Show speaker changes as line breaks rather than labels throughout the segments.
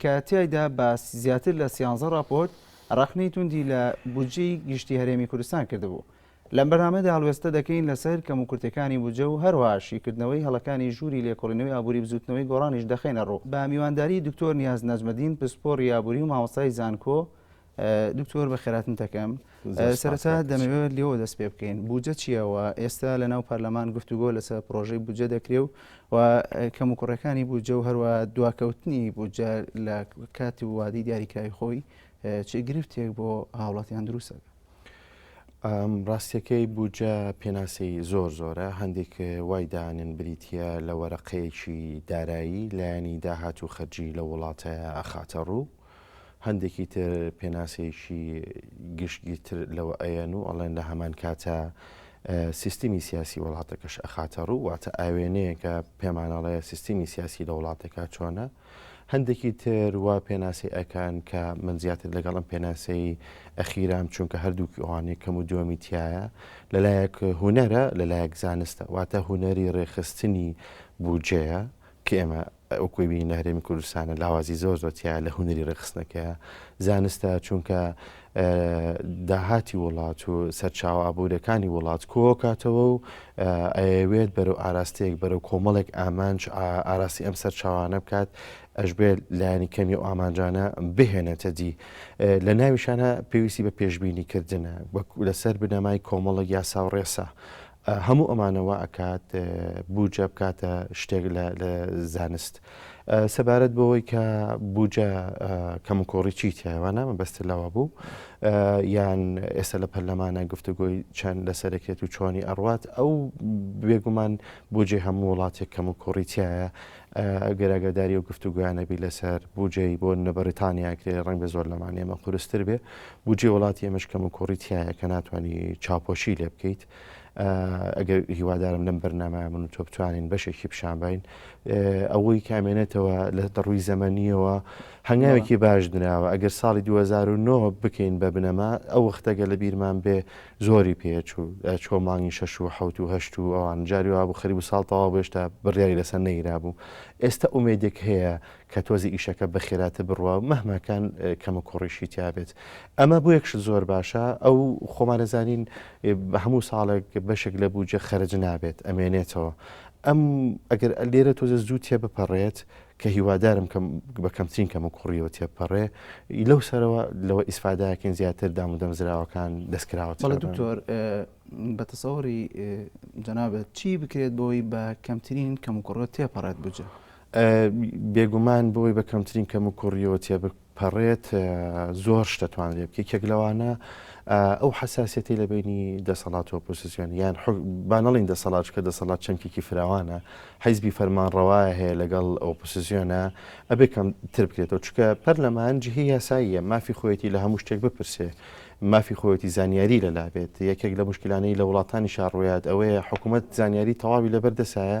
کە تیایدا بە زیاتر لە سیانزە ڕاپۆرت ڕەخنەی توندی لە بودجەی گشتی هەرێمی کوردستان کردبوو. لەم بەرنامەیەدا هەڵوێستە دەکەین لەسەر کەموکورتیەکانی بودجە و هەروەها شیکردنەوەی هەڵەکانی ژووری لێکۆڵینەوەی ئابووری بزووتنەوەی گۆڕانیش دەخەینە ڕوو. بە میوانداری دکتۆر نیاز نەجمەدین پسپۆڕی ئابووری و مامۆستای زانکۆ دکتۆر بەخێراتن تەکەم سەرەتا دەمەوێت لێەوە دەست پێ بکەین بجە چیەوە ئێستا لە ناو پەرلەمان گفتوگۆ لەسەر پرۆژەی بجە دەکرێ و و کەم و کوڕەکانی بجە و هەروە دواکەوتنی بجە لە کاتی وادی دیاریکراوی خۆی چ گرفتێک بۆ هاوڵاتیان دروستەکە ڕاستەکەی
بجە پێناسی زۆر زۆرە هەندێک وای دانن بریتە لە وەرەقەیەکی دارایی لایەنی داهات و خەرجی لە وڵاتە ئەخاتە ڕوو هەندێکی تر پێناسەیەکی گشتگیرتر لەوە ئەیەن و ئەڵێن لە هەمان کاتە سیستمی سیاسی وڵاتەکەش ئەخاتە ڕوو واتە ئاوێنەیەکە پێمانەڵەیە سیستمی سیاسی لە وڵاتەکە چۆنە هەندێکی تر وا پێناسی ئەکان کە من زیاتر لەگەڵم پێناسەی ئەخیرام چونکە هەردووکی ئەوانێ کەم و دووەمی تایە لەلایەک هوەرە لەلایەک زانستە واتە هوەری ڕێخستنی بودجەیە کە ئێمە وەکوی بینی لە هەرێمی کوردستانە لاوازی زۆر زۆر تیایە لە هونەری ڕێکخستنەکەیە زانستە چونکە داهاتی وڵات و سەرچاو ئابوورەکانی وڵات کۆکاتەوە و ئەوێت بەرەو ئاراستەیەک بەرەو کۆمەڵێک ئامانج ئاراستی ئەم سەرچاوانە بکات ئەشبێت لایانی کەمی و ئامانجانە بهێنێتە دی لە ناویشانە پێویستی بە پێشببینی کردنە لەسەر بنەمای کۆمەڵە یاسا و ڕێسا هەموو ئەمانە وا ئەکات بوجە بکاتە شتێک لە زانست سەبارەت بەوەی کە بوجە کەمکۆڕی چی تیاوانە مەبەست لەوە بوو یان ئێستا لە پەرلەمانە گفتوگۆی چەند لەسەرکرێت و چۆنی ئەڕوات ئەو بێگومان بۆجێ هەموو وڵاتێک کەم و کۆڕیتیایە ئەگەر ئاگاداری ئەو گفتوگۆیانە بی لەسەر بوجەی بۆ نە بەریتانیا کرێ ڕەنگە زۆر لەمان ئێمە قورستر بێ بوجێ وڵاتی ئێمەش کەم و کوڕی تایە کە ناتوانانی چاپۆشی لێ بکەیت ئەگەر هیوادارم لەم بەرنامە من تۆ بتوانین بەشێکی پیشانبین ئەوەی کامێنێتەوە لە دەڕووی زەمەنیەوە هەنگاوێکی باش دراوە ئەگەر ساڵی 2009 بکەین بە بنەما ئەو وەختەگە لە بیرمان بێ زۆری پێ ئەچوو ئەچووە مانگی شەش و حەوت و هەشت و ئەوان جاری وابوو خەریک بوو ساڵ تەواو بوو هێشتا بڕیاری لەسەر نەگیرابوو ئێستا ئومێدێک هەیە کە تۆزێ ئیشەکە بە خێراتر بڕوا مەهما کان کەموکوڕیشی تیا بێت ئەمە بۆ یەک شت زۆر باشە ئەو خۆمان دەزانین بە هەموو ساڵێک بەشێک لە بووجە خەرج نابێت ئەمێنێتەوە ئەم ئەگەر لێرە تۆزێ زوو تێ بپەڕێت ئەم کە هیوادارم کەم بە کەمترین کەم و کوڕیەوە تێپەڕێ ی لەو سەرەوە لەوە ئیسفاداکەین زیاتر دام و دەمزراوەکان دەستکراوە چ بەڵێ دکتۆر
بە تەسەوری جەنابەت چی بکرێت بۆی بە کەمترین کەم و کوڕە تێپەڕێت بجە
بێگومان بۆی بە کەمترین کەم و کوڕیەوە تێ پەڕێت زۆر شتە توانرێ بکە یەکێک لەوانە ئەو حساسەتی لە بینی دەسەڵات و پۆسیسیۆن یان بانەڵین دەسەڵات کە دەسەڵات چەمکێکی فراوانە حیزبی فەرمان ڕەوایە هەیە لەگەڵ ئەو پۆسیسیۆنە ئەبێ کەم تر بکرێتەوە چکە پەرلەمان جهی یاساییە مافی خۆیەتی لە هەموو شتێک بپرسێ مافی خۆیەتی زانیاری لەلا بێت یەکێک لە مشکلانەی لە وڵاتانی شارڕویات ئەوەیە حکوومەت زانیاری تەواوی لەبەردەسایە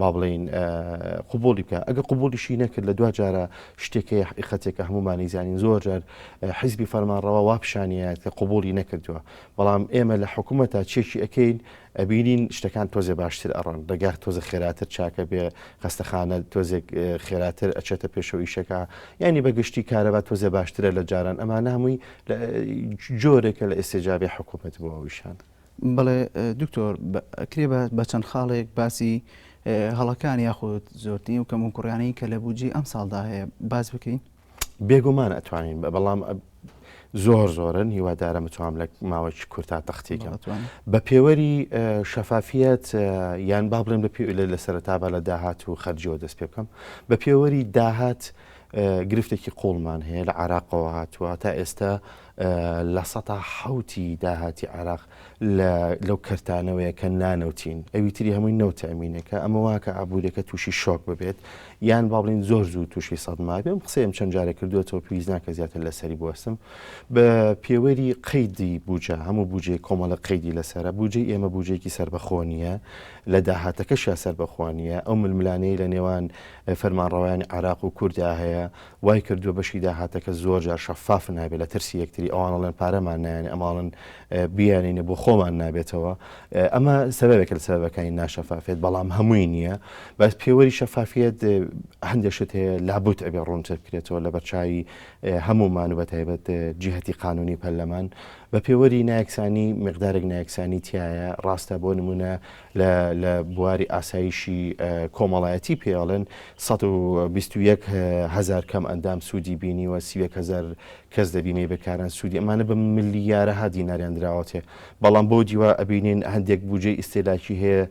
با بڵێین قبوڵی بکە ئەگە قبوڵیشی نەکرد لە دواجارە شتێکەیە حقیقەتێکە هەمومانی زانین زۆر جار حیزبی فەرمانڕەوە وا پیشانەیە کە قبوڵی نەکردووە بەڵام ئێمە لە حکوومە تا چێکی ئەەکەین ئەبینین شتەکان تۆزێ باشتر ئەڕۆن ڕێگار تۆزە خێراتر چاکە بێ خەستەخانە تۆزێک خێراتر ئەچێتە پێشەوەیشەکە ینی بەگشتی کارەبا تۆزێ باشترە لە جاران ئەمانە هەمووی جۆرێکە لە ئێسێجابێ حکوومەت بۆ ئەویشان. بەڵێ
دکتۆر ئەکرێ بە چەند خاڵێک باسی هەڵەکان یاخود زۆرترین و کەموکوڕیانەی کە لە بودجی ئەم ساڵدا هەیە باس بکەین بێگومان
ئەتوانین بە بەڵام زۆر زۆرن هیوادارە متوام لە ماوەی کورتا تەختیکە بە پێوەری شەفافیت یان با بڵێن بە پێ لە سەرتا بە لە داهات و خەرجەوە دەست پێ بکەم بە پێوەری داهات گرفتێکی قوڵمان هەیە لە عراقەوە هاتووە تا ئێستا لە سەتا حەوتی داهاتی عێراق لە لەو کەرتانەوەیە کە نانەوتین ئەوی تری هەمووی نەوتە ئەمینەکە ئەمە واکە ئابوووریەکە تووشی شۆک ببێت یان با بڵین زۆر زوو تووشی سەدما بێم قسەم چەند جارە کردوێتەوە پێویست ناکە زیاتر لەسەری بوەستم بە پێوەری قەیدی بوجە هەموو بجێ کۆمەڵە قەیدی لەسرە بجێ ئێمە بجێکی سربەخۆنیە لە داهاتەکەشیا سربەخوانیە ئەو ململانەیە لە نێوان فەرمانڕەوەیان عراق و کووردا هەیە وای کردووە بەشی داهاتەکە زۆر جار شەفاف نابێت لە ترسی یەکتری ئەوان ئەڵێن پارەمان نایەنێ ئەمە ئەڵێن بیانینە بۆ خۆمان نابێتەوە ئەمە سەبەبێکە لە سەبەکانی ناشەفافێت بەڵام هەمووی نییە بەس پێوەری شەفافیت هەندێک شت هەیە لابوت ئەبێ ڕوونتر بکرێتەوە لە بەرچایی هەمومان و بە تایبەت جیهتی قانونی پەرلەمان بە پێوەری نایەکسانی مقدارێک نایەکسانی تایە ڕاستە بۆ نمونە لە لە بواری ئاسایشی کۆمەڵایەتی پێڵێن سەد و بیست و یەک هەزار کەم ئەندام سوودی بینیوە سی و یەک هەزار کەس دەبینێ بەکاران سوودی ئەمانە بە ملیارەها دیناریان دراوەتێ بەڵام بۆ دیوا ئەبینین هەندێک بودجەی ئیستێلاکی هەیە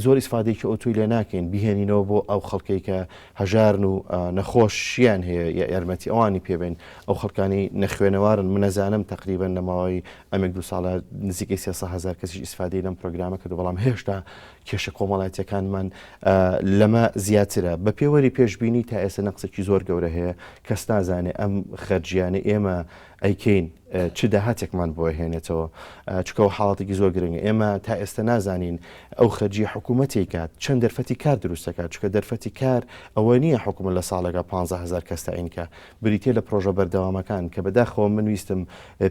زۆر ئیسفادێکی ئۆتوی لێ ناکەین بهێنینەوە بۆ ئەو خەڵکەی کە هەژارن و نەخۆشیان هەیە یا یارمەتی ئەوانی پێبێن ئەو خەڵکانی نەخوێنەوارن منەزانم تقریبا نەماوەی ئەمێک دوو ساڵە نزیکەی سێ سەد هەزار کەسیش ئیسفادەی لەم پرۆگرامە کردو بەڵام هێشتا کێشە کۆمەڵایەتیەکانمان لەمە زیاترە بە پێوەری پێشببینی تا ئێستا نەقسێکی زۆر گەورە هەیە کەس نازانێ ئەم خەرجیانە ئێمە ئەیکەین چ داهاتێکمان بۆ هێنێتەوە چکەوە حاڵاتێکی زۆر گرنگە ئێمە تا ئێستا نازانین ئەو خەرجی حکوومەتی کات چەند دەرفەتی کار دروستەکە چکە دەرفەتی کار ئەوە نییە حکوومە لە ساڵێکە 15هزار کەستەینکە بریتیە لە پرۆژە بەردەوامەکان کە بەداخەوە من ویستم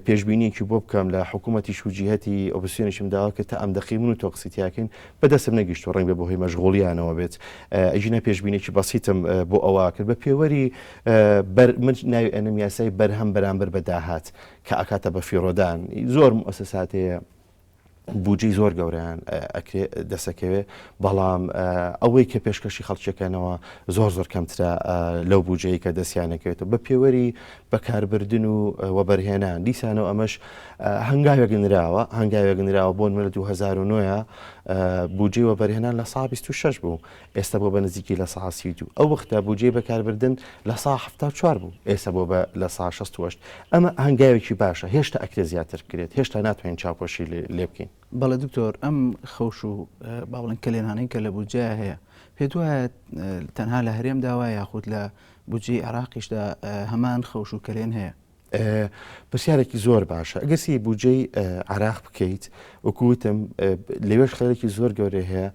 پێشبینیەکی بۆ بکەم لە حکومەتیش و جیهەتی ئۆپسیۆنیشم داوا کرد تا ئەم دەقەی من و تۆ قسەی تیاکەین بە دەستم نەگیشتوە ڕەنگبێ بەهۆی مەشغوڵیانەوە بێت ئەگینا پێشبینێکی بەسیتم بۆ ئەوە کرد بە پێوەری بەر من ناوی ئەنم یاسای بەرهەم بەرامبەر بە داهات کە ئەکاتە بە فیڕۆدان زۆر موسەساتەیە بودجەی زۆر گەوریان ئەکرێ دەسەکەوێ بەڵام ئەوەی کە پێشکەشی خەڵکیەکەنەوە زۆر زۆر کەمترە لەو بودجەیە کە دەستیانەکەوێتەوە بە پێوەری بەکاربردن و وەبەرهێنان دیسانەوە ئەمەش هەنگاوێک نراوە هەنگاوێک نراوە بۆن منە 2009 بودجەی وەبەرهێنان لە سا 26 بوو ئێستا بووە بە نزیکی لە سەها سی و دوو، ئەو وەختە بوجەی بەکاربردن لە سەها حەفتا و چوار بوو، ئێستا بووە بە لە سەها شەست و هەشت، ئەمە هەنگاوێکی باشە، هێشتا ئەکرێ زیاتر بکرێت، هێشتا ناتوانین چاوپۆشی لێ بکەین. بەڵێ دکتۆر، ئەم
خەوش و با بڵێن کەلێنانەی کە لە بودجەیا هەیە، پێت وایە تەنها لە هەرێمدا وایە یاخود لە بودجەی عێراقیشدا هەمان خەوش و کەلێن هەیە؟ پرسیارێکی
زۆر باشە ئەگەر سی بودجەی عراق بکەیت وەکو وتم لەوێش خەرێکی زۆر گەورەی هەیە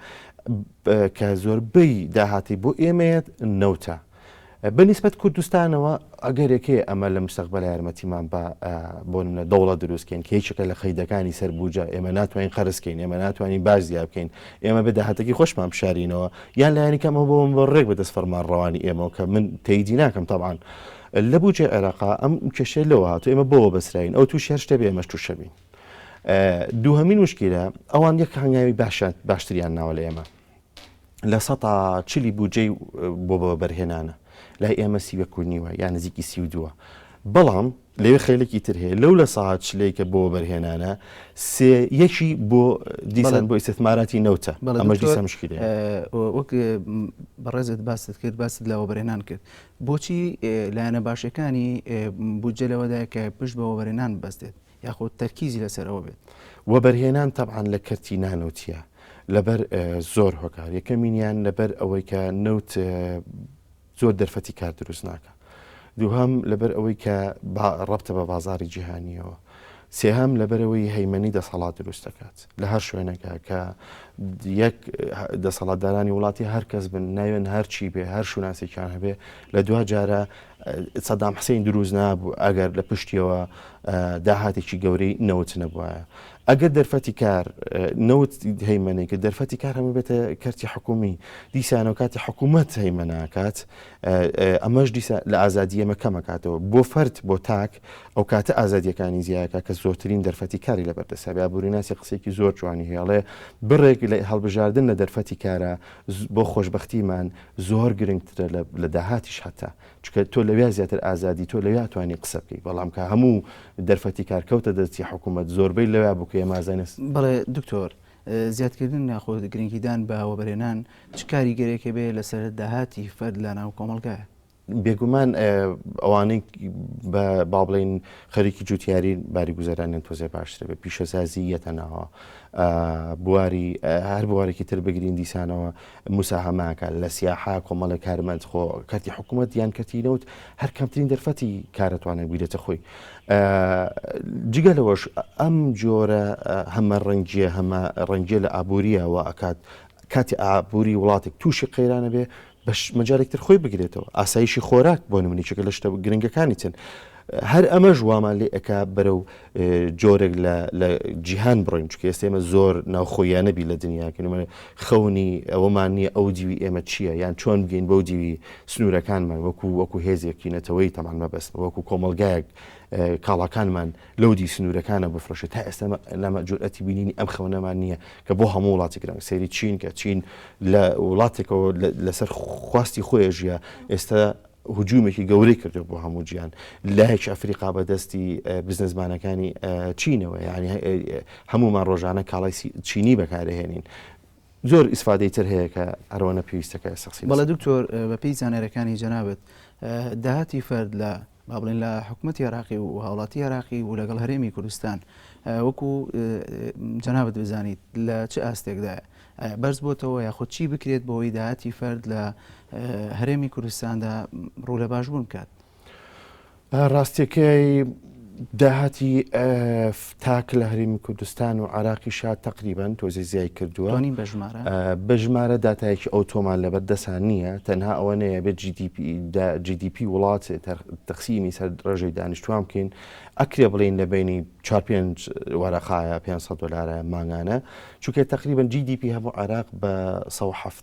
کە زۆربەی داهاتی بۆ ئێمەیەت نەوتە بە نسبەت کوردستانەوە ئەگەرێکێ ئەمە لە مستەقبل یارمەتیمان بە بۆ منە دەوڵە دروستکەین کێچەکە لە خەیدەکانی سەر بوجە ئێمە ناتوانین قەرزکەین ئێمە ناتوانین باش زیاب بکەین ئێمە بە داهاتەکی خۆشمان بشارینەوە یان لایەنی کەمەوە بۆم بۆ ڕێک بە دەست فەرمان ڕەوانی ئێمەوە کە من تەیدی ناکەم تاوان لە بودجەی عێراقا ئەم کێشەیە لەوە هاتووە ئێمە بەوە بەسراوین ئەو تووشی هەر شتێ بێ ئێمەش تووش ئەبین. دووهەمین موشکیلە ئەوان یەک هەنگاوی باشتریان ناوە لە ئێمە لە سەتا چلی بودجەی بۆ بەبەرهێنانە لای ئێمە سی وەک و نیوە یان نزیکی سی و دووە بەڵام لەوێ خێلێکی تر هەیە لەو لە ساعت شلەیکە بۆ بەرهێنانە سێ یەکی بۆ دیسان بۆ ئیسماراتی نەوتە ئەمەش دیسە مشکلی وەک
بەڕێزت باست کرد باست لەوە بەرهێنان کرد بۆچی لایەنە باشەکانی بودجە لەوەدایە کە پشت بە وەبەرهێنان ببەستێت یاخود تەرکیزی لەسەر ئەوە بێت؟ وەبەرهێنان
تەبعەن لە کەرتی نانەوتییە لەبەر زۆر هۆکار، یەکەمینیان لەبەر ئەوەی کە نەوت زۆر دەرفەتی کار دروست ناکە، دووهەم لەبەر ئەوەی کە ڕەبتە بە بازاری جیهانیەوە، سێهەم، لەبەرئەوەی هەیمەنەی دەسەڵات دروست دەکات لە هەر شوێنەکە کە یەک دەسەڵاتدارانی وڵاتی هەر کەس بن ناوێن هەرچی بێ هەر شوناسێکیان هەبێ لە دوا جارە سەدام حسین دروست نابوو ئەگەر لە پشتیەوە داهاتێکی گەورەی نەوت نەبووە ئەگەر دەرفەتی کار نەوت هەیمەنەی کە دەرفەتی کار هەمە بێتە کەرتی حکومی دیسانەوە کاتی حکوومەت هەیمەناکات ئەمەش دیسە لە ئازادی ئەمە کەمەکاتەوە بۆ فرد بۆ تاک ئەو کاتە ئازادییەکانی زیایەکە کە زۆرترین دەرفەتی کاری لەبەر دەستە. بێ ئابووریناسی قسەیەکی زۆر جوانی هەیە ئەڵێ، بڕێک لە هەڵبژاردن لە دەرفەتی کارا بۆ خۆشبەختیمان زۆر گرنگترە لە داهاتیش هەتا چونکە تۆ لەوێ زیاتر ئازادی تۆ لەوێ ئەتوانی قسە بکەی بەڵام کە هەموو دەرفەتی کار کەوتە دەستی حکوومەت زۆربەی لەوێ بوو کە ئێمە ئازای نەس بەڵێ دکتۆر،
زیادکردن یاخۆ گرنگیدان بە وەبەرهێنان چ کاریگەرییەک هەبێ لەسەر داهاتی فەرد لە ناو کۆمەڵگایە؟
بێگومان ئەوانەی بە با بڵێن خەریکی جوتیاری باری گوزەرانیان تۆزێ باشتر بە پیشەسازی یەتە ناوە بواری هەر بوارێکی تر بگرین دیسانەوە مساهماکە لە سیاحا کۆمەڵە کارمەند خۆ کەتی حکوومەت یان کەتی نەوت هەر کەمترین دەرفەتی کارەتوانە گویرێتە خۆی جگە لەوەش ئەم جۆرە هەمە ڕەنگیە هەمە ڕەنگیە لە ئابووریەوە ئەکات کاتی ئابووری وڵاتێک تووشی قەیرانە بێ بەش مجالێک تر خۆی بگرێتەوە ئاسایشی خۆراک بۆ نمونی چکە لە شتە گرنگەکانی چن هەر ئەمەش وامان لێ ئەک بەرە و جۆرێک لە جیهان بڕۆین چکە ئێستێمە زۆر ناوخۆیانەبی لە دنیاکەن منە خەونی ئەوەمان نییە ئەو دیوی ئێمە چییە یان چۆن بگەین بەو دیوی سنوورەکانمان وەکو وەکو هێزێکی نەتەوەی تەمان مەبەست وەکو کۆمەلگایەک کاڵاکانمان لۆدی سنوورەکانە بفرۆشێت تا ئێستا لەمە جورئەتی بینینی ئەم خەونەمان نییە کە بۆ هەموو وڵاتی گرنگ سەیری چین کە چین لە وڵاتێکەوە لەسەر خواستی خۆی ژیە ئێستا هجوومێکی گەورەی کردو بۆ هەموو جیان لایەک ئەفریقا بەدەستی بزنسمانەکانی چینەوە یعنی هەمومان ڕۆژانە کاڵای چینی بەکارهێنین زۆر ئیسفادەی تر هەیە کە هەرەوەنە پێویستە کە ئێستا قسەی لەسەر بەڵێ بکەین. دکتۆر بەپێی
زانیاریەکانی جەنابت داهاتی فەرد لە با بڵێن لە حکومەتی عێراقی و هاوڵاتی عێراقی و لەگەڵ هەرێمی کوردستان وەکو جەنابت بزانیت لە چ ئاستێکدایە؟ ئایا بەرز بۆتەوە یاخود چی بکرێت بەوەی داهاتی فەرد لە هەرێمی کوردستاندا ڕوو لە باشبوون بکات؟ ڕاستیەکەی
داهاتی تاک لە هەرمی کوردستان و عراقی شا تەقریبان تۆزی زیای کردووە بە ژمارە دااتایەکی ئەو تۆمان لەبەر دەسان نییە تەنها ئەوە نەیە بێت GDP وڵات تەخسیمی سەر ڕێژەی دانیشتوان بکەین ئەکرێ بڵین لە بینی 45 وەرەقاە 500 دلارە مانگانە چونکە تقریبان GDP هەموو عراق بە 1970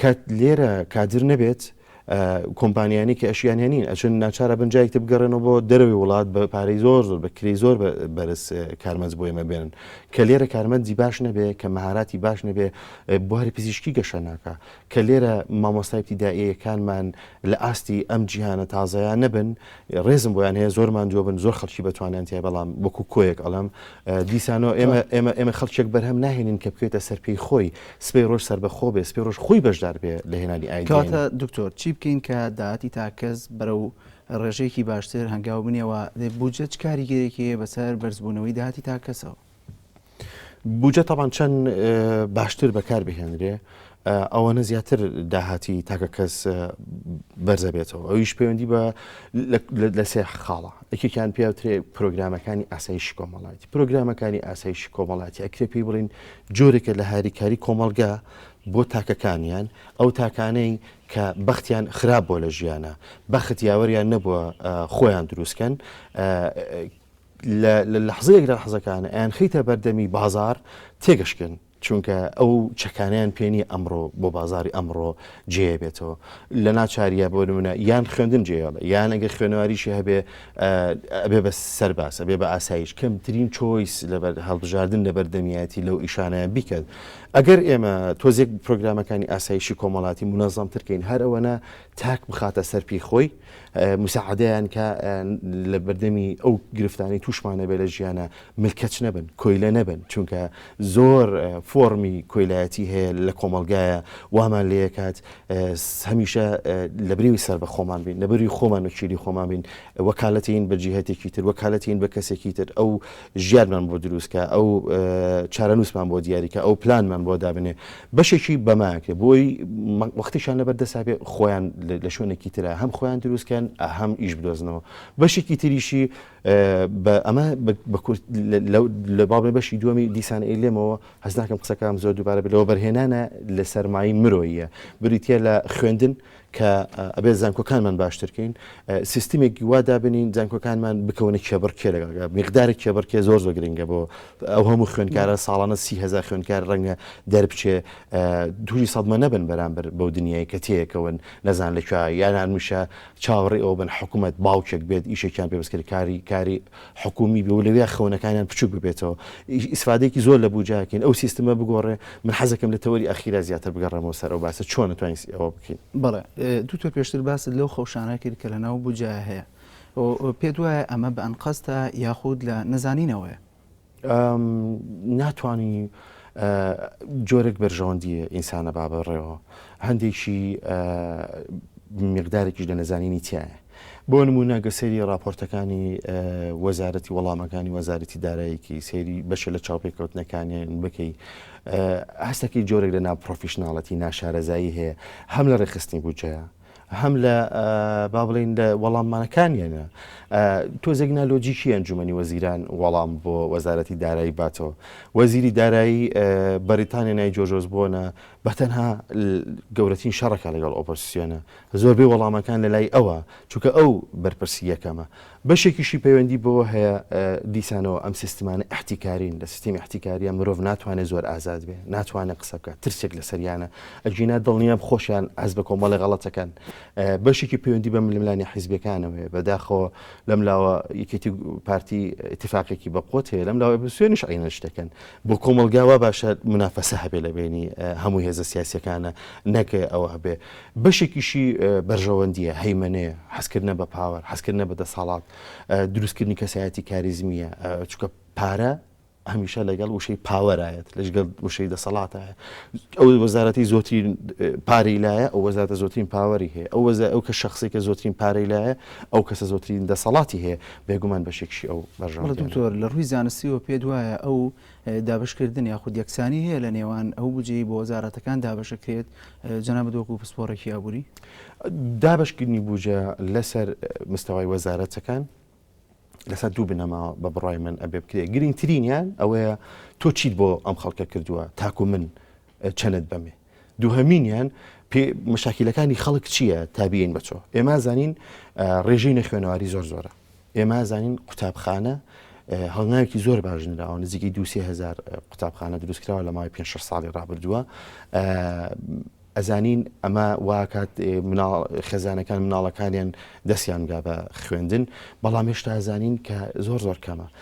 کە لێرە کادر نەبێت کۆمپانیانی کە ئەشیان هێنین ئەچن ناچارە بنجایک تە بگەڕێنەوە بۆ دەرەوەی وڵات بە پارەی زۆر زۆر بە کری زۆر بەرز کارمەز بۆ ئێمە بێنن کە لێرە کارمەندی باش نەبێ کە مەهاراتی باش نەبێ بواری پزیشکی گەشە ناکە کە لێرە مامۆستایتی دایەکانمان لە ئاستی ئەم جیهانە تازایان نەبن ڕێزم بۆیان هەیە زۆرمان دووە بن زۆر خەڵکی بەتوانیان تای بەڵام وەکو کۆیەک ئەڵم دیسانەوە ئێمە ئێمە ئێمە خەڵکێک بەرهەم ناهێنین کە بکوێتە سەر پێی خۆی سبەی ڕۆژ سەربەخۆ بێ سبەی ڕۆژ خۆی بەشدار بێ لە هێنانی ئایدیای نوێ. کەواتە دکتۆر
چی بکەین کە داهاتی تاک کەس بەرەو ڕێژەیەکی باشتر هەنگاو بنێ و بودجە چ کاریگەریەکی هەیە بەسەر بەرزبوونەوەی داهاتی تاک کەسەوە؟
بودجە تەبان چەند باشتر بەکار بهێنرێ ئەوەنە زیاتر داهاتی تاکە کەس بەرزە بێتەوە ئەویش پەیوەندی بە لە سێ خاڵە یەکێکیان پێوترێ پرۆگرامەکانی ئاسایشی کۆمەڵایەتی پرۆگرامەکانی ئاسایشی کۆمەڵاتی ئەکرێ پێی بڵین جۆرێکە لە هاریکاری کۆمەڵگە بۆ تاکەکانیان، ئەو تاکانەی کە بەختیان خراپ بووە لە ژیانا، بەخت یاوەریان نەبووە خۆیان دروست کەن، لە لەحزەیەک لە لەحزەکان ئەیانخەیتە بەردەمی بازاڕ تێگەشکن، چونکە ئەو چەکانەیان پێ نییە ئەمڕۆ بۆ بازاڕی ئەمڕۆ جێێ بێتەوە، لە ناچارییە بۆ نموونە یان خوێندن جێێڵێ یان ئەگەر خوێنەواریشی هەبێ ئەبێ بە سەرباز، ئەبێ بە ئاسایش کەمترین چۆیس لە هەڵبژاردن لە بەردەمیایەتی لەو ئیشانەیان بیکەت. ئەگەر ئێمە تۆزێک پرۆگرامەکانی ئاسایشی کۆمەڵاتی مونەزەمترکەین هەر ئەوەنە تاک بخاتە سەر پێی خۆی مساعدەیان کە لە بەردەمی ئەو گرفتانی تووشمانەبێ لە ژیانە ملکەچ نەبن، کۆیلە نەبن، چونکە زۆر فۆڕمی کۆیلایەتی هەیە لە کۆمەڵگایە وامان لێکات هەمیشە لە بریوی سەر بە خۆمان بین لە بری خۆمان و چیری خۆمان بین وەکالەتین بە جیهتێکی تر وەکالەتین بە کەسێکی تر ئەو ژیانمان بۆ دروستکە ئەو چارەنووسمان بۆ دیاریکە ئەو پلانمان بۆ دابنێ بەشێکی بەماکرێ بۆی وەختیشان لەبەر دەسابێ خۆیان لە شوێنێکی ترە هەم خۆیان دروستکەن ئەهەم ئیش بدۆزنەوە بەشێکی تریشی بە ئەمە بەکورت لە بابێ بەشی دووەمی دیسان ئەیلێمەوە هەز ناکەم قسەکەم زۆر دووبارە بلەوە بەرهێنانە لە سەرمایی مرۆیە بریتە لە خوێندن کە ئەبێ زانکۆکانمان باشترکەین سیستمێکی وادا بنین زانکۆکانمان بکەونە کێبڕکێ لەگەڵ مقدارە کێبڕکێ زۆر زۆر گرنگە بۆ ئەو هەموو خوێندکارە ساڵانە سیهزار خوێندکار ڕەنگە دەربچێ دووری سەدمە نەبن بەرامبەر بەو دنیای کە تەیەکەون نەزان لەکوێ یانان میشە چاوەڕێی ئەوە بن حکومەت باوکێک بێت ئیشێکیان پێ بسکرێت کاری کاری حکومی بێ و لەوێ خەونەکانیان بچووک ببێتەوە ئیسفادەیەکی زۆر لە بوجا کەین ئەو سیستمە بگۆڕێ من حەزەکەم لە تەوەری ئەخیرا زیاتر بگەڕێمەوە سەر ئەو باسە چۆن توانین ئەوە بکەین بەڵێ دوکتۆر
پێشتر باست لەو خەوشانە کرد کە لەناو بوجا هەیە و پێت وایە ئەمە بە ئەنقەستە یاخود لە نەزانینەوەیە
ناتوانی جۆرێک بەرژەوەندیە ئینسانە با بەڕێەوە هەندێکی مقدارێکیش لە نەزانینی تایە بۆ نمونە گەسەری راپۆرتەکانی وەزارەتی وەڵامەکانی وەزارەتی دارایەکی سێری بەشە لە چاوپێکەوتنەکانیان بکەی هەستەکەی جۆرێک لە ناپۆفیشنناڵەتی ناشارەزایی هەیە هەم لە ڕێخستنی بودجەیە هەم لە با بڵێن لە وەڵاممانەکانیانە تۆزێک نالۆجیکی ئەنجومی وەزیران وەڵام بۆ وەزارەتی دارایی باتەوە وەزیری دارایی بەریتانیا نای جۆجۆز بۆنە بەتەنها گەورەترین شەڕەکە لەگەڵ ئۆپۆسیۆنە زۆربەی وەڵامەکان لە لای ئەوە چونکە ئەو بەرپرسی یەکەمە بەشێکیشی پەیوەندی بەوە هەیە دیسانەوە ئەم سیستمانە ئیحتیکارین، لە سیستمی ئیحتیکارییە مرۆڤ ناتوانێت زۆر ئازاد بێت، ناتوانێت قسە بکات، ترسێک لەسەریانە، ئەگینا دڵنیام خۆشیان هەست بە کۆمەڵێ غەڵەت دەکەن. بەشێکی پەیوەندی بە ململانێ حیزبییەکانەوە هەیە، بەداخەوە لەم لاوە یەکێتی و پارتی ئیتیفاقێکی بەقوەت هەیە، لەم لاوە ئۆپۆزسیۆنیش عەینەن شتەکەن. بۆ کۆمەڵگا وا باشە منافەسە هەبێت لە بەینی هەموو هێزە سیاسییەکانە، نەک ئەوە هەبێت. بەشێکیشی بەرژەوەندییە، هەیمەنەیە، حەزکردنە بە پاوەر، حەزکردنە بە دەسەڵات، دروستکردنی کەسایەتی کاریزمییە، چونکە پارە هەمیشە لەگەڵ وشەی پاوەرایەت لەژگەڵ وشەی دەسەڵاتایە ئەو وەزارەتی زۆترین پارەی لایە ئەو وەزارەتە زۆترین پاوەری هەیە ئەو وەزای ئەو کە شخصی کە زۆترین پارەی لایە ئەو کەسە زۆترین دەسەڵاتی هەیە بێگومان بەشێکشی ئەو بەژەڵ دکتۆر لە ڕووی زانستی
و پێ وایە ئەو دابەشکردن یاخود یەکسانی هەیە لە نێوان ئەو بجەی بۆ وەزارەتەکان دابەشەکرێت جەنابەت وەکو پسپۆڕێکی ئابووری دابشکردنی
بوجە لەسەر مستەوای وەزارەتەکان لەسەر دوو بنەماوە بە بڕای من ئەبێ بکرێ گرنگترینیان ئەوەیە تۆ چیت بۆ ئەم خەڵکە کردووە تاکو من چەنت بەمێ دووهەمینیان پێ مەشاکیلەکانی خەڵک چییە تابیین بەچۆ ئێمە زانین ڕێژەی نەخوێنەواری زۆر زۆرە ئێمە زانین قوتابخانە هەڵناوێکی زۆر باژنراوە نزیکی دوهزار قوتابخانە دروستکراوە لە ماوەی پێ ساڵی ڕابردووە ئەزانین ئەمە واکات خێزانەکان مناڵەکانیان دەستیان گا بە خوێندن بەڵام هێشتا ئەزانین کە زۆر زۆر کەمە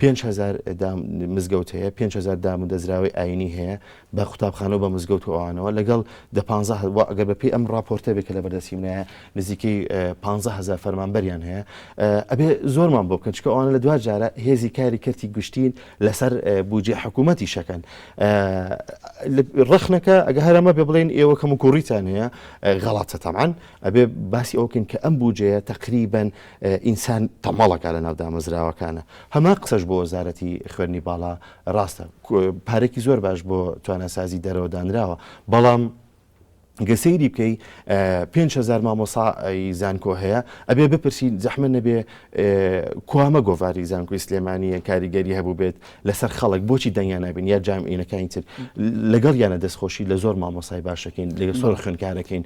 پێنج هەزار دام مزگەوت هەیە، پێنج هەزار دامودەزراوەی ئایینی هەیە، بە قوتابخانە و بە مزگەوت و ئەوانەوە، لەگەڵ دە پانزە هە وە ئەگەر بەپێی ئەم ڕاپۆرتە بێ کە لە بەردەستی منایە نزیکەی پانزە هەزار فەرمانبەریان هەیە، ئەبێ زۆرمان بۆ بکەن، چونکە ئەوانە لە دوا جارە هێزی کاری کەرتی گشتین لەسەر بودجەی حکوومەتیش ئەکەن. ڕەخنەکە ئەگە هەر ئەمە بێ بڵێن ئێوە کەموکووڕیتان هەیە، غەڵەتە تەبعەن، ئەبێ باسی ئەوە بکەین کە ئەم بودجەیە تەقریبەن ئینسان تەمەڵەکە لەناو دامەزراوەکانە. هەمان قسەش بۆ وەزارەتی خوێندنی باڵا ڕاستە. پارەکی زۆر باش بۆ تواناسازی دەرەوە دانراوە. بەڵام گەر سەیری بکەی پێنج هەزار مامۆسای زانکۆ هەیە، ئەبێ بپرسین زەحمەت نەبێ کوامە گۆڤاری زانکۆی سلێمانییە کاریگەری هەبووبێت لەسەر خەڵک بۆچی دەنگیان نابین یا جام ئینەکانی تر لەگەڵ یانە دەستخۆشی لە زۆر مامۆسای باشەکەین لەگە سۆر خوێنکارەکەین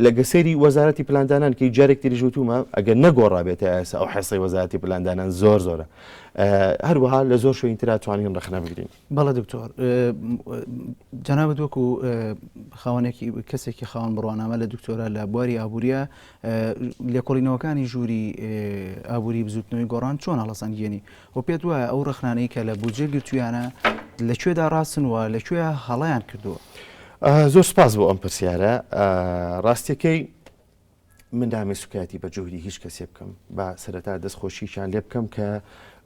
لەگە سەیری وەزارەتی پلاندانان کە جارێک تریژوتومە ئەگەر نەگۆڕابێتە ئاسا ئەو حەسەی وەزارەتی پلاندانان زۆر زۆرە هەروەها لە زۆر شوین تررا توانین ڕخنە بگرین بەڵە دکتۆر
جەنابەت وەکو خاوەنێکی کەسێکی خاوەن بڕوانامە لە دکتۆرە لە بواری ئابوووریە لێکۆڵینەوەکانی ژووری ئابووری بزوتنەوەی گۆڕان چۆن هەڵسەنگێنی وە پێت وایە ئەو ڕەخنانەی کە لە بودجە گرتوویانە لە کوێدا ڕاستن و لە کوێ هەڵەیان کردووە؟ زۆر
سپاس بۆ ئەم پرسیارە. ڕاستیەکەی من نامەوێت سوکایەتی بە جوهری هیچ کەسێ بکەم با سەرەتا دەست خۆشیشان لێ بکەم کە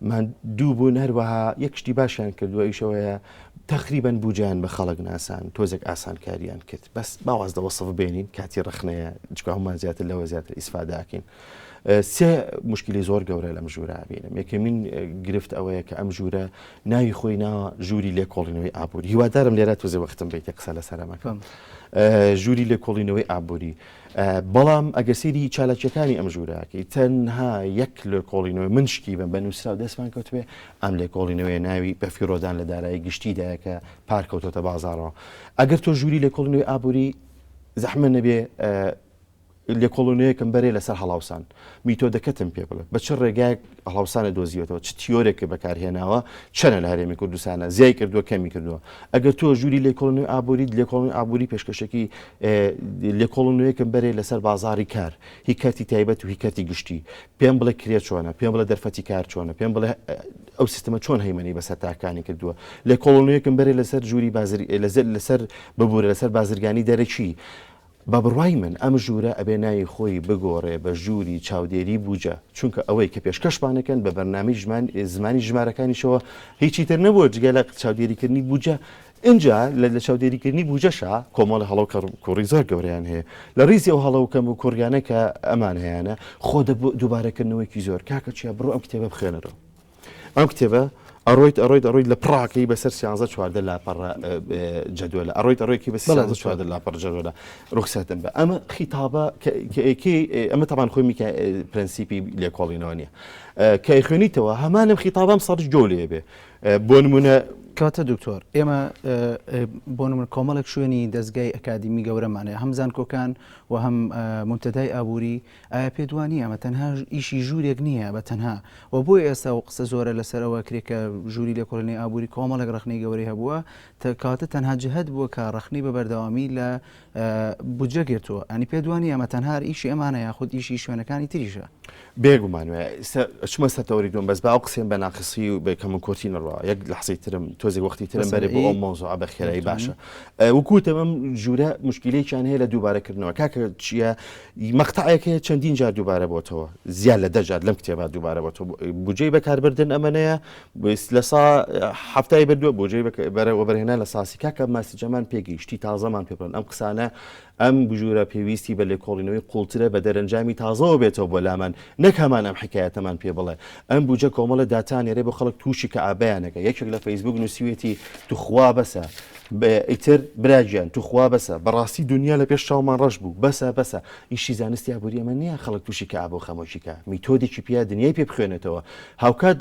ماندوو بوون هەروەها یەک شتی باشیان کردووە ئیشەوەیە تقریبا بوجیان بە خەڵک ناسان تۆزێک ئاسانکاریان کرد بەس باواز لە وەصف بێنین کاتی ڕخنەیە جکاومان زیاتر لەوە زیاتر ئیسفاداکەین سێ مشکلی زۆر گەورە لەم ژوورە بینم یەکەمین گرفت ئەوەیە کە ئەم ژوورە ناوی خۆی ناوە ژووری لێکۆڵینەوەی ئابووری هیوادارم لێرە توزێ وەختم بیت قسە لە سەرەمەکەم ژووری لێکۆڵینەوەی ئابووری بەڵام ئەگەر سری چالاکیەکانی ئەم ژووراکەی تەنها یەک لێکۆڵینەوەی من شکی بم بە نووسرا و دەستمان کەوتێ ئەم لێکۆڵینەوەی ناوی بەفیرۆدان لە دارایی گشتیدایەکە پارکەوتۆتە بازارەوە ئەگەر تۆ ژووری لێکۆڵینەوەی ئابووری زەحمە نەبێ لێکۆڵینەوەیەکم بەرێ لەسەر هەڵاوسان. میتۆدەکەتم پێ بڵێ. بە چ ڕێگایەک هەڵاوسانت دۆزیوەتەوە؟ چ تیۆرێکت بەکارهێناوە؟ چەنە لە هەرێمی کوردستانە؟ زیای کردووە کەمی کردووە؟ ئەگەر تۆ ژووری لێکۆڵینەوەی ئابووریت، لێکۆڵینەوەی ئابووری پێشکەشێکی لێکۆڵینەوەیەکم بەرێ لەسەر بازاڕی کار. هی کەرتی تایبەت و هی کەرتی گشتی. پێم بڵێ کرێ چۆنە؟ پێم بڵێ دەرفەتی کار چۆنە؟ پێم بڵێ ئەو سیستمە چۆن هەیمەنەی بەسەر تاکەکانی کردووە؟ لێکۆڵینەوەیەکم بەرێ لەسەر ژووری بازر لەسەر ببوورە لەسەر بازرگانی دەرەکی. بە بڕوای من ئەم ژوورە ئەبێ ناوی خۆی بگۆڕێ بە ژووری چاودێری بووجە چونکە ئەوەی کە پێشکەشمان ئەکەن بە بەرنامەی ژمان زمانی ژمارەکانیشەوە هیچی تر نەبووە جگە لە چاودێری کردنی بووجە ئینجا لە لە چاودێری کردنی بووجەشا کۆمەڵە هەڵە و کەڕ کوڕی زۆر گەورەیان هەیە لە ڕیزی ئەو هەڵە و کەم و کوڕیانە کە ئەمان هەیانە خۆ دەبوو دووبارە کردنەوەیەکی زۆر کاکە چیا بڕۆ ئەم کتێبە بخوێنەرەوە. ئەم کتێبە ئەڕۆیت ئەڕۆیت ئەڕۆیت لە پڕاکەی بەسەر سیانزە چواردە لاپەڕ جدوێلە ئەڕۆیت ئەڕێکی بە سیانزە چواردە لاپەڕ جدوێلە ڕوخساتم بە ئەمە خیتابە کەکی ئەمە تاوان خۆی میکە پرەنسیپی لێکۆڵینەوە نیە کە خوێنیتەوە هەمانم خیتابم سەرش گەو لێ بێ بۆ نمونە کاتە دکتۆر
ئێمە بۆ من کۆمەڵێک شوێنی دەستگای ئەکادیمی گەورەمانەیە هەم زانکۆکان و هەم منتەدای ئابووری ئایا پێت وا نییە ئەمە تەنها ئیشی ژوورێک نییە بە تەنها و بۆیە ئێستا ئەو قسە زۆرە لەسەر ئەوە ئەکرێت کە ژووری لێکۆڵینەوەی ئابووری کۆمەڵێک ڕەخنەی گەورەی هەبووە تا کەواتە تەنها جەهەت بووە کە ڕەخنەی بە بەردەوامی لە بودجە گرتووە ئەنی پێت وا نییە ئەمە تەنها ئیشی ئەمانە یاخود ئیشی شوێنەکانی تریشە؟ بێگومان وایە
ئێستا ئەچمە سەر تەوەری دووەم بەس با ئەو قسەیەم بە ناقسی و بە کەموکورتی نەڕوا یەک لەحزەی ترم تۆزێک وەختی ترم بەسەر بەرێ بۆ ئەو ئی مەوزوعە بە خێرایی باشە بێتوانم وکوتم ئەم ژوورە مشکیلەیەکیان هەیە لە دووبارەکردنەوە کاکە چییە مەقتەعێک هەیە چەندین جار دووبارە بۆتەوە، زیاد لە دە جار لەم کتێبا دووبارە بۆتەوە. بوجەی بەکاربردن ئەمەنەیە لە سا حەفتای بردووە بوجەی وەبەرهێنان لە ساسی کاکە ماسی جەمان پێگەی شتی تازەمان پێ بڵێن ئەم قسانە ئەم بژوورە پێویستی بە لێکۆڵینەوەی قوڵترە بە دەرەنجامی تازەوە بێتەوە بۆ لامان نەک هەمان ئەم حکایەتەمان پێ بڵێ ئەم بوجە کۆمەڵە داتانێرێ بۆ خەڵک تووشی کە ئابیانەکە یەکێک لە فەیسبوک نووسیوێتی توخوا بەسە ئیتر برا گیان توخوا بەسە بەڕاستی دونیا لە پێش چاومان ڕەش بوو بەسە بەسە ئیشی زانستی ئابووری ئەمە نییە خەڵک تووشی کە ئابۆ خەمۆکی کە میتۆدێکی پیا دنیای پێ بخوێنێتەوە هاوکات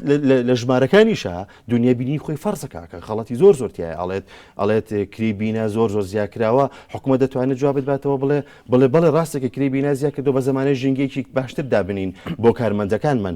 لە ژمارەکانیشە دنیا بینی خۆی فەرزەکەکە خەڵەتی زۆر زۆرتیای ئاڵێت ئەڵێت کری بینا زۆر زۆر زیاکراوە حکومە دەتوانێت جوابت باتەوە بڵێ بڵێ بڵێ ڕاستێکە کری بینا زیاکردو بە زمانە ژینگەیەکی باشتر دابنین بۆ کارمەندەکانمان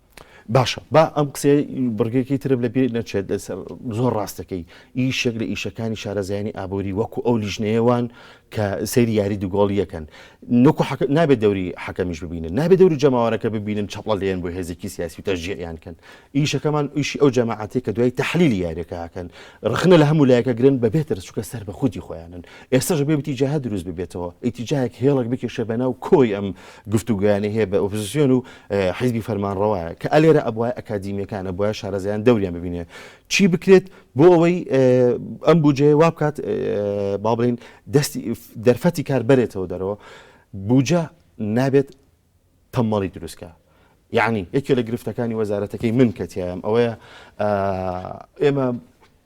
باشە با
ئەم قسێ بڕگەکەی ترم لە بیر نەچێت زۆر ڕاستەکەی ئیشێک لە ئیشەکانی شارەزایانی ئابووری وەکو ئەو لیژنەیەوان کە سەیری یاری دوگۆڵی یەکەن نکو نابێت دەوری حەکەمیش ببینن نابێت دەوری جەماوارەکە ببینن چپڵە لێن بۆ هێزێکی سیاسی و تەژیان کەن ئیشەکەمان ئیشی ئەو جەماعاتی کە دوای تحلیلی یاریەکەکەن ڕخنە لە هەموو لایەکە گرن بە بێتر چکە سەر بە خودی خۆیانن ئێستاش بێ بتی جاها دروست ببێتەوە ئیتیجاهک هێڵک بکێشە بە ناو کۆی ئەم گفتوگویانە هەیە بە ئۆپزیسیۆن و حیزبی فەرمانڕەوایە کە ئەلێرە ئەبوایە ئەکادیمیەکان ئەبوایە شارەزایان دەوریان ببینێ چی بکرێت بۆ ئەوەی ئەم بجێ وا بکات با بڵین دەستی دەرفەتی کار بەرێتەوە دەرەوە بجە نابێت تەمەڵی دروستکە یعنی یەکێ لە گرفتەکانی وەزارەتەکەی من کەتیایم ئەوەیە ئێمە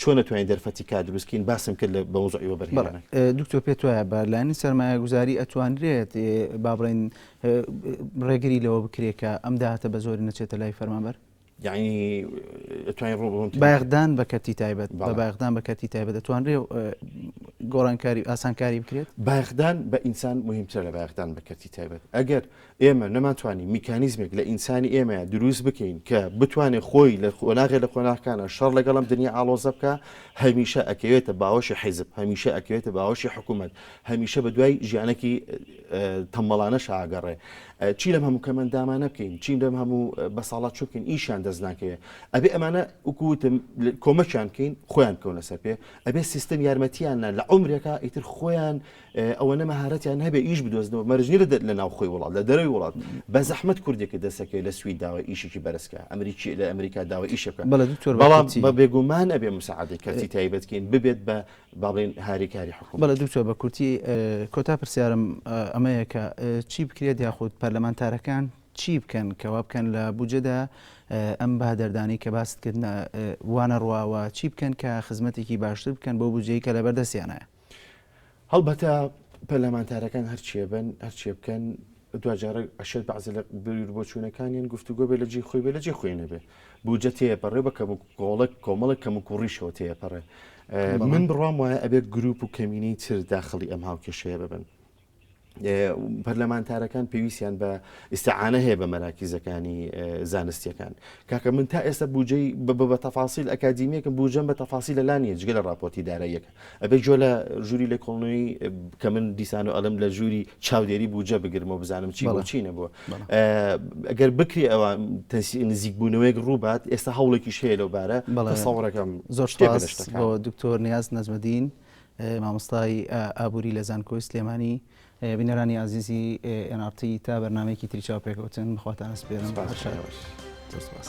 چۆن نەتوانین دەرفەتی
کار
دروست کەین باسم کرد لە بە مەوزوعی وەبەرهێنان. بەڵێ دکتۆر پێت
وایە بە لایەنی سەرمایەگوزاری ئەتوانرێت با بڵێین ڕێگری لەوە بکرێت کە ئەم داهاتە بە زۆری نەچێتە لای فەرمانبەر؟ یعنی
ئەتوانین ڕوو بڕۆن تێ- بایەخدان بە کەرتی
تایبەت بەڵێ. بە بایەخدان بە کەرتی تایبەت دەتوانرێ ئە، گۆڕانکاری ئاسانکاری بکرێت؟ بایەخدان بە ئینسان
مهمترە لە بایەخدان بە کەرتی تایبەت ئەگەر ئێمە نەمانتوانی میکانیزمێک لە ئینسانی ئێمەیە دروست بکەین کە بتوانێ خۆی لە قۆناغێ لە قۆناغەکانا شەڕ لەگەڵ ئەم دنیا ئاڵۆزە بکا، هەمیشە ئەکەوێتە باوەشی حیزب، هەمیشە ئەکەوێتە باوەشی حکوومەت، هەمیشە بە دوای ژیانەکی تەمبەڵانەشا ئەگەڕێ. چی لەم هەموو کەمەندامانە بکەین، چی لەم هەموو بەساڵاچوو بکەین، ئیشیان دەست ناکەوێ. ئەبێ ئەمانە وەکوو وتم کۆمەکیان بکەین خۆیان بکەونە سەر پێ، ئەبێ سیستم یارمەتییان نا لە عومرێکا ئیتر خۆیان ئەوەنە مەهارەتیان هەبێ ئیش بدۆزنەوە مەرجنی لە لە ناوخۆی وڵات لە دەرەوەی وڵات بە زەحمت کوردێکە دەسەکەی لە سوید داوە ئیشێکی بەرزکە ئەمریکی لە ئەمریکا داوە ئیشە بکە بەڵێ دکتۆر بەڵام بە بێگومان ئەبێ مساعدەی کەسی تایبەتکەین ببێت بە باڵێن هاریکاری حکوم بەڵێ دکتۆر بە کورتی
کۆتا پرسیارم ئەمەیە کە چی بکرێت یاخود پەرلەمانتارەکان چی بکەن کەوا بکەن لە بجەدا ئەم بە دەردانی کە باست کرد وانە ڕواوە چی بکەن کە خزمەتێکی باشتر بکەن بۆ بجەی کە لە بەردەستیانە
هەڵبەتە پەرلەمانتارەکان هەرچییە بن، هەرچییە بکەن، دواجارە ئەشێت بەعزێ لە بیروبۆچوونەکانیان گفتوگۆ بێ لە جێی خۆی بێ لە جێ خۆی نەبێ بودجە تێپەڕێ بە کەم و کۆڵێک کۆمەڵێک کەم و کوڕیشەوە تێپەڕێ من بڕوام وایە ئەبێت گروپ و کەمینەی تر داخڵی ئەم هاوکێشەیە ببن پەرلەمانتارەکان پێویستیان بە ئیسعاە هەیە بە مەراکیزەکانی زانستیەکان کاکە من تا ئێستا بجێ بە تەفاسیل ئەکادیمیەکە بجەم بە تەفاسی لە لانی جگە لە راپۆرتی داراییەکە ئەبێ جۆ لە ژووری لە کۆڵنەوەی کە من دیسان و ئەلم لە ژووری چاودێری بجە بگرمەوە بزانم چی بەڵ چینە بووە ئەگەر بکری ئەوە تەسی نزیکبوونەوەیەک ڕووبات ئێستا هەوڵێکی شەیە لەو بارە بەڵێ ساوڕەکەم زۆر شتێ
دکتۆر نیاز نەزمەدین. مامۆستای ئابووری لە زانکۆی سلێمانی. بینەرانی ئازیزی ئێن ئاڕ تی تا بەرنامەیەکی تری چاوپێکەوتن بەخواتان ئەسپێرم هەر شاد باش. زۆر سوپاس.